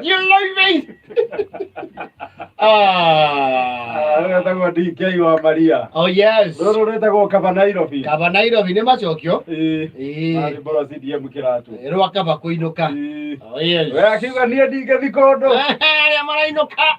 You like me? Ah. Rä etagwo DK wa Maria. Oh yes. Rå rå rä tagwo kaba Nairobi. Kaba Nairobi nä macokio. Ĩĩ. Ĩĩ. Marĩ mboro CDM kĩratũ. Rwa kaba kũinũka. Ĩĩ. Oh yes. We akiuga niĩ ndingĩthi kũndũ. Arĩa marainũka.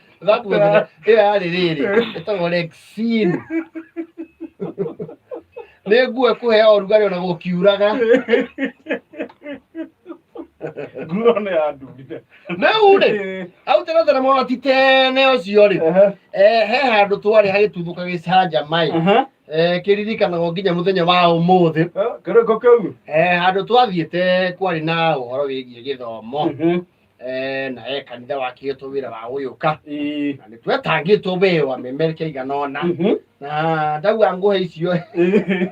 That Nguo zina- ĩyo yarĩ rĩrĩ ĩtagwo rexin nĩ nguo ĩkũhea ũrugarĩ ona gũkiuraga Nguo nĩ ya ndurire. rĩu rĩ au tena tena mwana ti tene ũcio rĩ Ehe. eh, he handũ twarĩ hagĩtuthũka gĩcanja maĩ Aha. eh, kĩririkanagwo nginya mũthenya wa ũmũthĩ Eh, Kĩrĩko kĩu. eh, handũ twathiĩte kwarĩ na ũhoro wĩgiĩ gĩthomo Mhm. eh, na e kanitha wakĩtwo wĩra wa gũgĩũka Ĩĩ. na nĩ twetangĩtwo wee wa mĩmere kĩigana ona Mhm. na ndaua ngũhe icio Ĩĩ.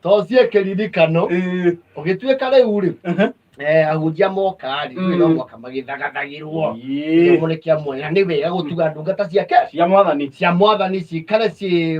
to cie kĩririkano Ĩĩ. ũgĩtuĩka rĩu rĩ Aha. eh, ahunjia moka rĩ Mm. rĩu no mwaka magĩthagathagĩrwo Ĩĩ. kĩomo nĩ kĩa mwanya nĩ wega gũtuga ndungata ciake cia mwathani cia mwathani cikare ciĩ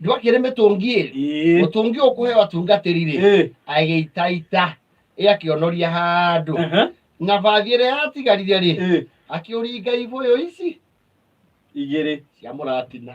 nĩgwakĩrĩ mĩtũngi ĩrĩ Ĩĩ. mũtũngi ũkũhe watungatĩri rĩ Ĩĩ. agĩitaita ĩ akĩonoria handũ Ehe. na bathi ĩrĩa yatigarire rĩ Ĩĩ. akĩũringa ibũyũ ici Igĩrĩ. cia mũratina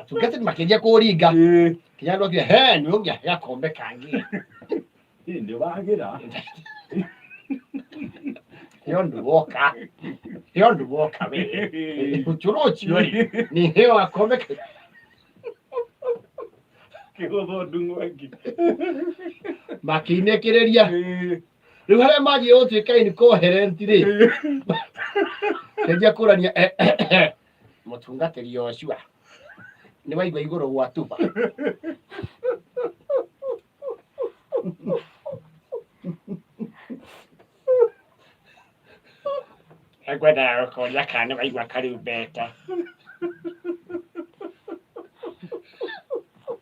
atungati nĩ makĩnjia kũringa Ĩĩ, kinya andũ akia he nĩ ũngĩa gakombe kangĩ ĩ, nĩ wagĩra heo ndũ woka heo ndũ woka we ũcũrũ ũcio rĩ nĩ heo gakombe ka- kĩhũthũ ndung'ũ ĩngĩ makĩinĩkĩrĩria Ĩĩ, rĩu harĩa magiĩ gũtuĩka incoherent rĩ ndenjia kũrania mũtungatĩri Yoshua nĩ waigua igũrũ gwa tuba ekwendaga gũkoria kana nĩ waigua kariu mbeta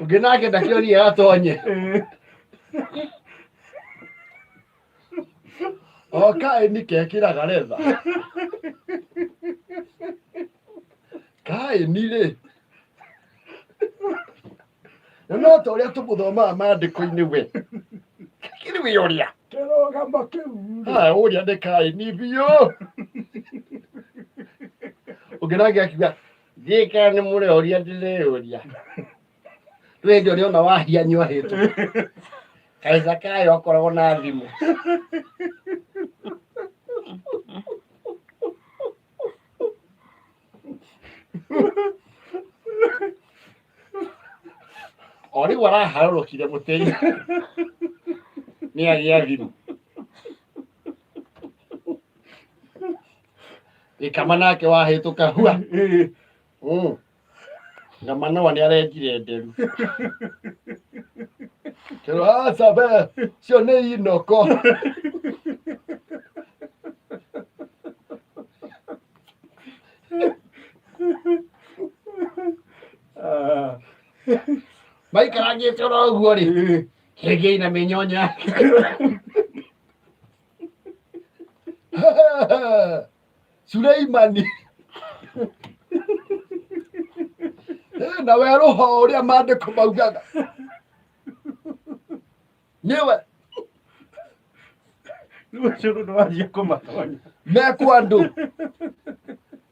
ũngĩ nake ndakĩonie gatonye okaĩ nikekĩraga retha kaĩni rĩ na no ta ũrĩa tũmũthomaga maandĩko-inĩ we kĩrĩ wĩ ũrĩa kĩrũgamo kĩu haya ũrĩa nĩ kaĩni biũ ũngĩ nake akiuga Thiĩka nĩ mũrĩ oria ndĩrĩũria. Rĩu hĩndĩ ũrĩa ona wahia nyuahĩtwo. Kaica kayo akoragwo na thimũ. O rĩu araharũrũkire mũtĩ-inĩ nĩ agĩa thimũ. Gĩkama nake wahĩtũka hua. Mm. Ngamanoa nĩ arenjire nderu. Kĩro aca be, cio nĩ inoko. Maikarangĩte oro ũguo rĩ, hĩngĩ ina mĩnyonya. Suleimani na werũha o ũrĩa maandĩko maugaga nĩwe Rĩu ũcio nĩ wajia kũmatonya. mekwa andũ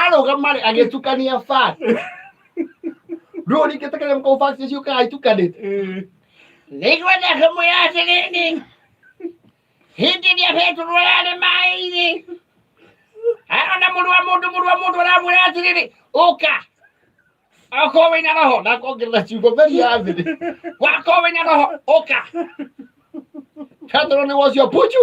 arũgama rĩ agĩtukania fact rĩu ningĩ ta kĩrĩa kau fact icio kagatukanĩte nĩngwenda kũmwĩra atĩrĩrĩ hĩndĩ ĩrĩa petũrũ ararĩ maĩ-inĩ arona mũrũ wa mũndũ mũrũ wa mũndũ aramwĩra atĩrĩrĩ ũka akorwo wĩna roho na kongerera ciugo meri ya thĩ wakorwo wĩna roho ũka petũrũ nĩ wocio puchu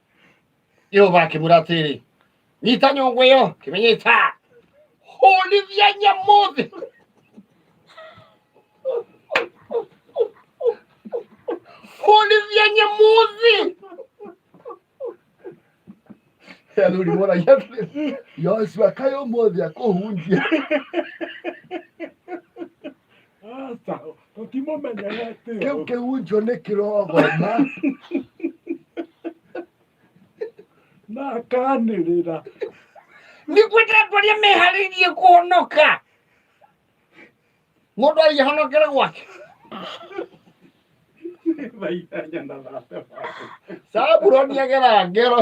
jehova akĩmwĩra atĩrĩ nyita nyũngũ ĩyo kĩmĩnyita hũrithia nyamuthi hũrithia nyamuthi athuri moragia atĩrĩ yoshua kaĩ ũmũthĩ akũhunjia Aca, tũtimũmenyerete Kĩu ũũ. kĩhunjio nĩ kĩrogoma. na akanĩrĩra Nĩguo ndĩratoria meharĩirie kũhonoka. Mũndũ arĩhonokera gwake. thaithanya na thate waku Sabuloni agera ngero.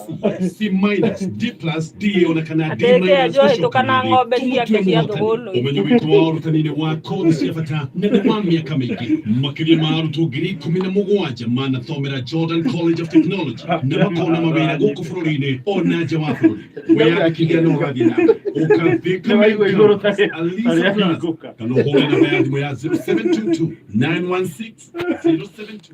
si minus d plus d ĩonekana d Ateke minus ajua gũcoka ĩtũka na thĩ. ng'ombe Tũmũtue ciake cia mũhotani. thũgũlũ. ũmenyo witũ wa ũrutani nĩ wa kothi cia bata na nĩ wa mĩaka mĩingĩ makĩria ma arutwo ngiri ikũmi na mũgwanja manathomera jordan college of technology na makona mawĩra gũkũ bũrũri-inĩ o na nja wa bũrũri wĩyandĩkithia na ũrathiĩ na mbere ũkathĩka Nĩ waigua igũrũ ta- ta Alisa rĩa Plus. hingũka. kana ũhũre namba ya thimũ ya 0722 916 072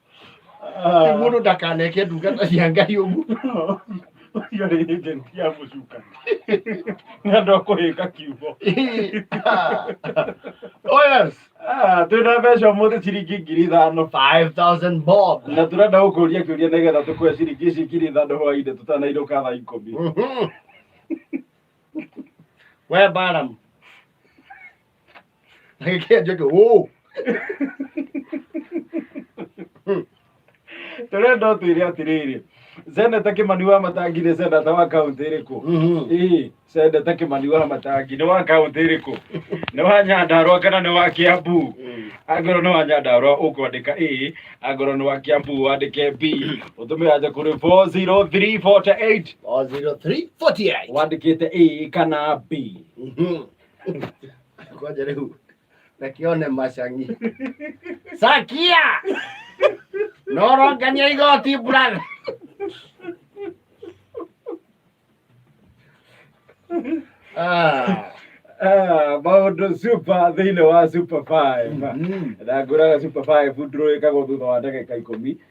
Rĩu mũndũ ndakaneke ndungata cia ngai ũguo Ũcio rĩ agent ya mũcuka. Nĩ andũ a kũhĩka kiugo. Ĩĩ, ah. oh yes Ah, twĩ na mbeca ũmũthĩ ciringi ngiri ithano 5000 bob na tũrenda gũkũria kĩũria nĩgetha tũkũhe ciringi ici ngiri ithano hwainĩ tũtanainũka thaa ikũmi Mhm. we baram Like, yeah, just go, whoa. tũrenda ũtwĩre atĩrĩrĩ seneta kĩmani wa matangi nĩ seneta wa kaũntĩ ĩrĩkũ Mhm. ii seneta kĩmani wa matangi nĩ wa kaũntĩ ĩrĩkũ nĩ wa nyandarwa kana nĩ wa kĩambu angorwo nĩ wa nyandarwa ũkwandĩka ĩ angorwo nĩ wa kĩambu wandĩke b ũtũme aja kũrĩ 40348 Or 0348. wandĩkĩte ĩ kana b Mhm. Ngoja rĩu reke one macang'i sakia no ũrongania igoti brother Ah, Ah, maũndũ super thĩinĩ wa super five mm. na ngũraga super five ndũrũĩkagwo thutha wa ndagĩka ikũmi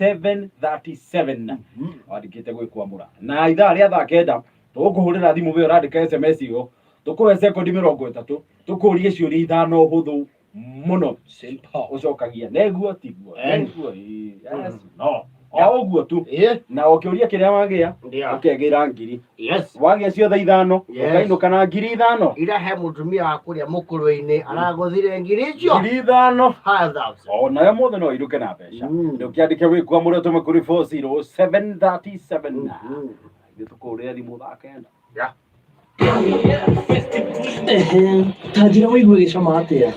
737 wandikite gwikwamura na ithaa ria thaa kenda tugukuhurira thimu we urandika sms iyo tukuhe sekondi mirongo itatu tukurie ciuria ithano huthu muno Simple. ucokagia neguo tiguo Eh. neguo ii, yes, no o uguo tu Eh, na ukiuria kiria wagia ndio. ukegira ngiri yes wagĩa ciothe ithano Yes. ũkainũka na ngiri ithano ira he mũtumia wa kũrĩa mũkũrũ-inĩ aragũthire ngiri icio ngiri ithano five thousand o nayo mũthĩ no irũke na mbeca Mm. nĩ ũkĩandĩke wĩkua mũrĩa ũtũme kũrĩ 40737 na Mhm. ithuĩ tũkũhũrĩre thimũ thaa kenda Yeah. Ehe, tanjira wĩigue gĩcama atĩa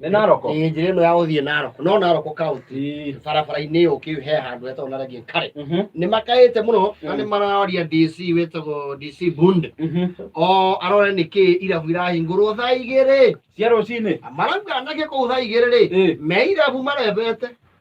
nĩ naroko ĩĩ njĩra ĩno ya gũthiĩ naroko no naroko kaunti barabara-inĩ ĩyo ũkĩhe handũ hetagwo na rangĩ kare Mhm, nĩ makaĩte mũno na Mm. nĩ mararia dc wĩtagwo dc bunde mhm. o arore nĩ kĩ irabu irahingũrwo thaa igĩrĩ cia rũcinĩ marauga anake kũu thaa igĩrĩ rĩ Ĩĩ. me irabu marebete